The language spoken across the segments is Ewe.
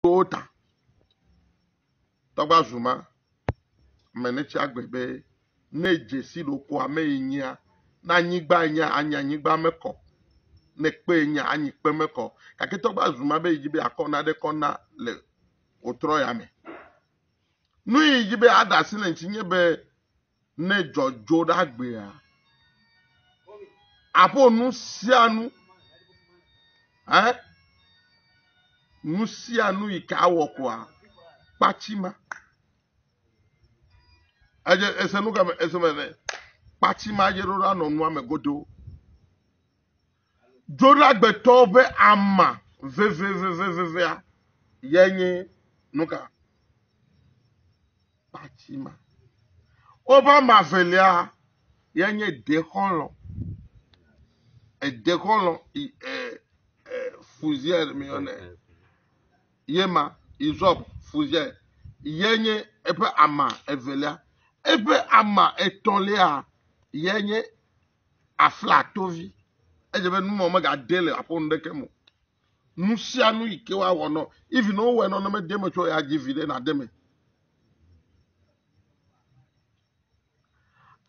wo ta. Tɔgba zuma menetsi agbe be ne dzesi ɖoko ame yi nyia na anyigba nya anya anyigba mekɔ ne kpe nya anyi kpe mekɔ gake tɔgba zuma be yi be akɔ na ɖe kɔ na le wotrɔ ya me. Nu yi be aɖa asi le ŋuti nye be ne dzɔdzo ɖe agbea, aƒo nu sia nu, eh, nu sia nu yi ke awɔ koa, kpatsi ma. Edze ese nu kame ese me ne kpatsi ma dze ɖo ɖa nɔ nua me godo. Dzoɖagbetɔwo ƒe ama vevevevevea ye nye nu ka? Kpati ma. Woƒe ama velia ye nye dekɔlɔ. Edekɔlɔ i e e fuziɛ mi yɔnɛ. Ye ma izɔb fuziɛ ye nye eƒe ama evelia. Eƒe ama etɔ̃lia ye nye afla to vi edze be numɔ megade le aƒo nuɖeke mo nu sia nu yi ke woawɔ nɔ even ne wowɔe nɔ ne mede me tso ya dzi vi ɖe nade me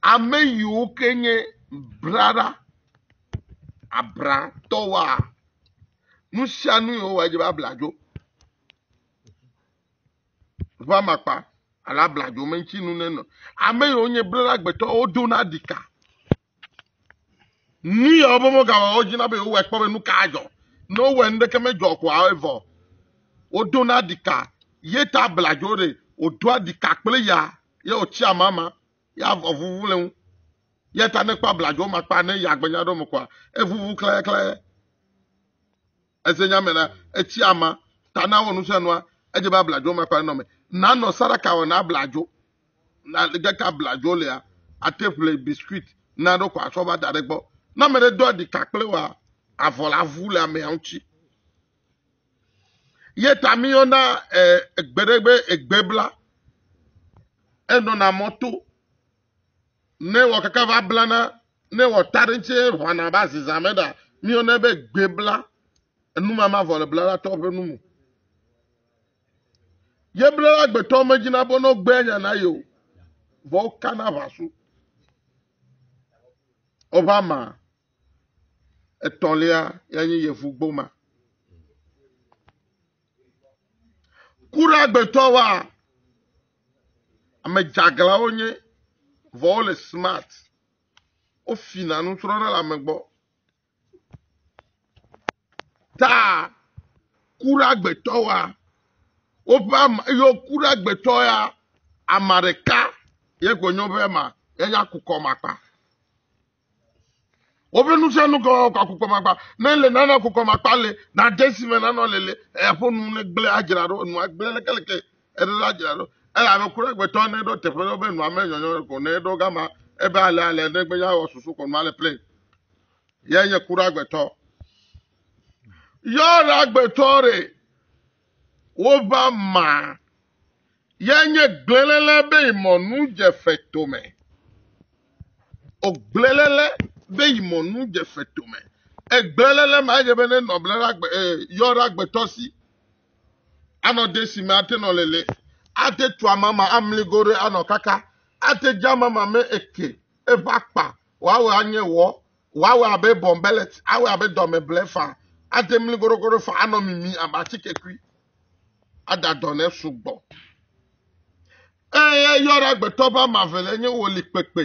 ame yiwo ke nye brara abratɔwoa nu sia nu yewowa edze be abla dzo Ŋu amakpa alo abladzo me ŋuti nu nenɔ. Ame yiwo nye blelagbetɔ wodona ɖika. Nu yawo be womegawɔ wo dzina be yewowɔe kpɔ be nu ka dzɔ. Ne wowɔe nu ɖeke medzɔ koa evɔ. Wodona ɖika ye ta abladzo ɖe wòdoa ɖika kple ya ye wòtsi amama ya evuvu le ŋu. Ya ta ne kpɔ abladzo makpa ne ya gbenya ɖo me koa evuvu klayaklaya. Eze nya me la, etsi ama ta na wɔ nusianua, edze be abladzo makpa nenɔ me. Nanɔ sadaka wɔ na abladzo. Na ge ka abladzo lea, ate ƒle biscuit na ɖo kɔ asɔ va da ɖe gbɔ. Na me ɖe do aɖi ka kple wa avɔ la vu le amea ŋutsi. Ye ta mi yɔ na eh, egbe ɖe be egbe bla. Enɔ na mɔto. Ne wɔkaka va blana, ne wɔta ɖe ŋuti ʋana va zizã me ɖa, míone be gbe bla, enumama vɔ le blala tɔ ƒe nu me. Ye blala gbetɔ me dzi na bo no gbe nya na yo, vɔ kana vasu. Ova ma, etɔlia ya nye yevu gboma. Kura gbetɔ wa, Ame dzeaglãwo wonye, vɔ wole smart. Wofina nusrɔ̃ɖe le ame gbɔ. Ta ku ɖe agbetɔ wa. Woƒe ama ye woku ɖe agbetɔ ya, ama ɖeka ye gbenyo be ma ye nya kukɔ makpa. Woƒe nusianukɔ akukɔmakpa. Ne ele nana akukɔmakpa le, na desi me nanɔ lele, eƒo nu ne gblẽ adzra ɖo, nua gblẽ lekeleke, eɖo la adzra ɖo. Ele ame kura gbetɔ ne ɖo teƒe ɖo be nua me nyɔnyɔ ko ne ɖo gama, ebe ale ale ne gbe ya wɔ susu ko nua le plein. Yɛ nye kura gbetɔ. Yɔ la gbetɔ re. Wova ma ye nye gblẽlele be yi mɔ nu dje fe tome. O gblẽlele be yi mɔ nu dje fe tome. E gblẽlele ma ye be ne nɔ ble la gbe e yɔ la gbe tɔsi. Anɔ de si me ate nɔ lele. Ate tu ama ma amli gore anɔ kaka. Ate dja ama ma me eke. Eva kpa. Wa we anye wɔ. Woawɔe abe bɔnbelet, awɔe abe dɔmeble fa, ade mli goɖogoɖo fa, anɔ mimi abe atikekui, ada dɔ ne sugbɔ. Eye yɔ ɖe agbetɔ be ama ve le nye wo li kpekpe,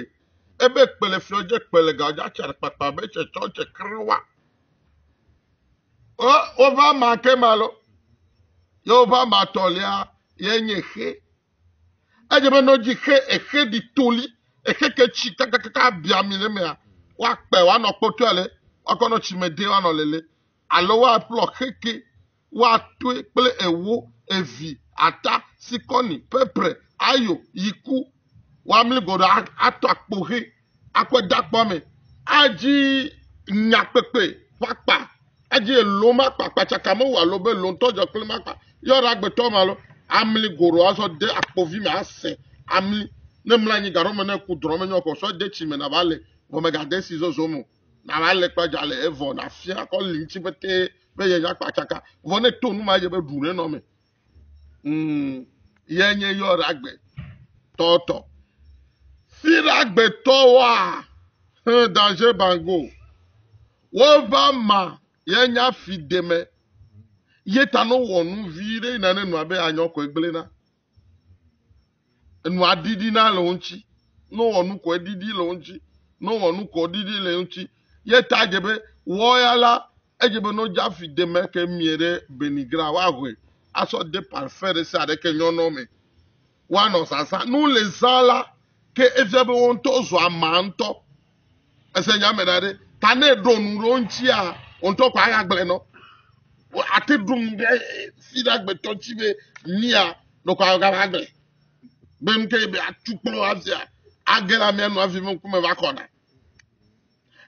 ebe kpe le fiɔ dze kpe le gawo dze atsa ɖe kpakpa be tsɛ tsɔ tsɛ kere wa. O, woƒe ama ke ma lo, ye woƒe ama tɔlia ye nye xe. Edze be ne wodzi xe exe ɖi toli, exe ke tsi kakakaka abia mi le mea, woakpe woanɔ kpɔtɔ ale woakɔ nɔ tsi me de woanɔ lele. Alo woaƒlɔ xe ke woatoe kple ewo, evi, ata, sikɔni, pepre, ayo, yiku. Woamli gɔɖɔ atɔ akpo xe. akpedakpɔame adzi nyakpekpe ƒe akpa adzi elo ma akpa kpatsaka me wò alo be elo ŋutɔ dzɔ kple ma akpa yɔra agbetɔ ma alo amli goro azɔ de akpovi me ase amli ne mla anyi gaɖɔ me ne ku drɔ me nyɔ kɔ sɔ de tsi me nava le vɔ me gade si zozo me nava le kpa dza le evɔ nafia kɔ li ŋuti bete be yenya kpatsaka vɔ ne to nu ma ye be ɖu ne nɔ me Mm, ye nye yɔɖagbe tɔtɔ. Siɖagbe tɔwoa, hẽ danger bango. Wova ma ye nya fi deme. Ye ta no wɔ nu vi ɖe yina ne nua be anyɔkɔe gblena. Enua ɖiɖina le wo ŋuti. Ne wowɔ nu kɔ eɖiɖi le wo ŋuti. Ne wowɔ nu kɔ ɖiɖi le wo ŋuti. Ye ta dze be wɔya la edze be ne wodze afi de me ke mie ɖe benigra woahoe asɔ de parfum ɖe sia ɖe ke nyɔnɔ me woanɔ zazã. Ne wole zã la ke efia be wo ŋutɔ zua ma ŋutɔ. Ese nya me na ɖe. Ta ne ɖo nu ɖe ŋutia, ŋutɔ kɔ aya gblẽ nɔ. Ate ɖum ɖe fi ɖe agbetɔ tsi be mia ɖo kɔ aya gava gblẽ. Be nu ke be atu kplɔ avia, age la mia nu avi me ŋkume va kɔna.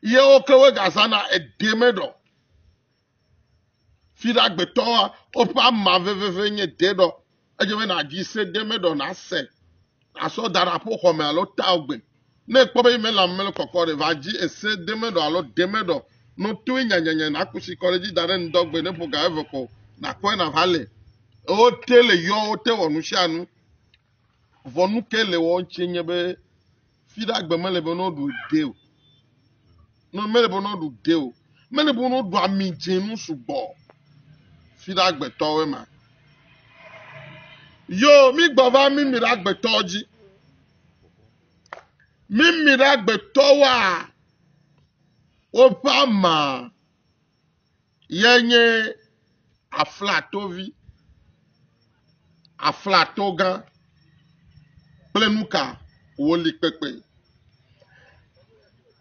Yewo ke wo gazana edeme ɖɔ. Fiɖagbetɔa woƒe ama veveve nye deɖɔ. Edze be nàdzi se de eme ɖɔ nàse, àsɔ da ɖe aƒoxɔ me alo tile gbe. Ne èkpɔ be email la mele kɔkɔ ɖe, va dzi ese de eme ɖɔ alo de eme ɖɔ. Ne wotoe nyanyanya nàku tsi kɔ ɖe edzi da ɖe ŋdɔgbe ne ƒo ga eve ko nàkpɔe nàva le. Wo te le yɔ, wo te wɔ nu sia nu. Vɔ nu ke le wɔm tse nye be Fi ɖe agbe mele be ne woɖu ɖe o. Ne mele be ne woɖu ɖe o. Mele be ne woɖu ami dze nu sugbɔ. Fi ɖe agbetɔwoe ma. Yo, mi gbɔ va mi mi ɖe agbetɔwo dzi. Mi mi ɖe agbetɔwoa woƒe ama. ye nye aflatovi, aflatogã kple nuka wòli kpekpe.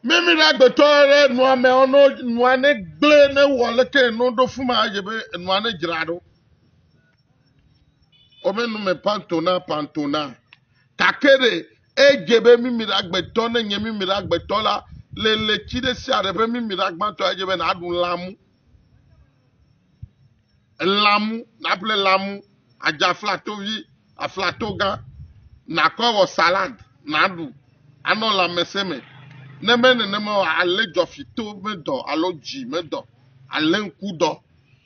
Mími ɖe agbetɔ ɖe nua me ɔno nua ne gblẽ ne wɔ leke eno ɖo fuma yɛ be enua ne dzra ɖo. Wome nume pantona pantona. Kake ɖe Edze be mimila gbetɔ, ne nye mimila gbetɔ la, le letsi ɖe sia ɖe ƒe mimila gbãtɔa, edze be nàɖu lãmu. Lãmu, nàƒle lãmu, àdze aflatovi, aflatogã, nàkɔe wɔ salad, nàɖu, anɔ lãmesẽ me. Ne menye nenema o, alé dzɔfitɔ ƒe dɔ alo dzi me dɔ, alé ŋku dɔ.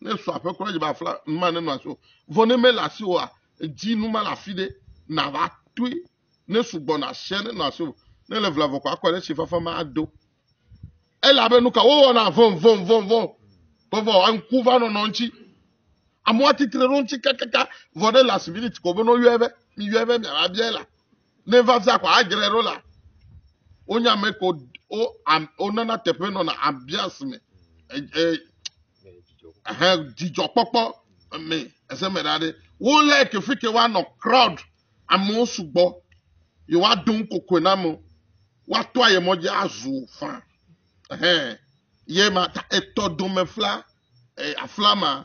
Ne sɔ aƒe kura dzi be afla nu ma nenɔ asi o. Vɔ ne mele asi oa, edzi nu ma le afi ɖe nàva toe. Ne sugbɔ na asia nenɔ asi o. Ne le vlavɔ ko akɔ ɖe si fafa ma ado. Elabe nu ka wowɔna vɔvɔvɔvɔ vɔvɔ aŋku va nɔnɔ ŋuti. Amewo atitre ɖe ŋuti kakaka vɔ ɖe last minute ko be ne woyɔe be miyɔe be miava bia la. Ne va via ko adzrae ɖo la, wonya ame ko wonana teƒe nɔna ambiance me. Dzidzɔkpɔkpɔ me ese me ɖa ɖe. Wolé kefike woanɔ crowd amewo sugbɔ. Yewoado nu kokoe na amewo. Woato aye mɔ dzi azu fã. Ye ma ta etɔ domefla afla ma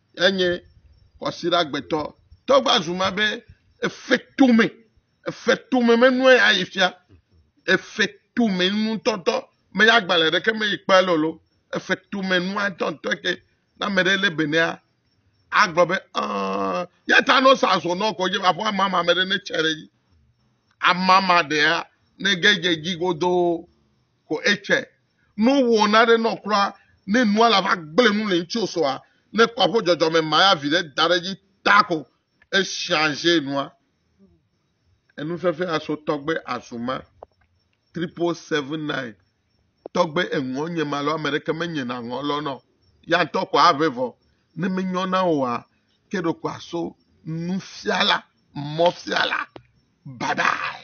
enye kwasiɖagbetɔ. Tɔ va zu ma be efe tome, efe tome menue ya yi fia, efe tome nutɔtɔ me ya gbalẽ ɖeke me yi kpe lolo, efe tome nua tɔtɔ ke na ame ɖe le benea agblɔ be aa ya ta no sa zo no ko je va fɔ mama me ɖe ne tsɛ ɖe yi. Amama ɖea ne ge je ji godo Ko etsɛ, no wò naɖe nɔ kura ne nua la va gblẽ nu le ŋtsi osoa, ne kɔ aƒo dzɔdzɔ me maya vi ɖe da ɖe dzi ta ko echangé nua. Enu fefee aso tɔgbe azu ma. Triple seven nine tɔgbe eŋɔ nye ma lɔ ame ɖeke me nye na ŋɔ lɔ nɔ ya ŋtɔ ko aʋe vɔ ne me nyɔ na oa ke ɖo ko aso nufiala mɔfiala bye bye.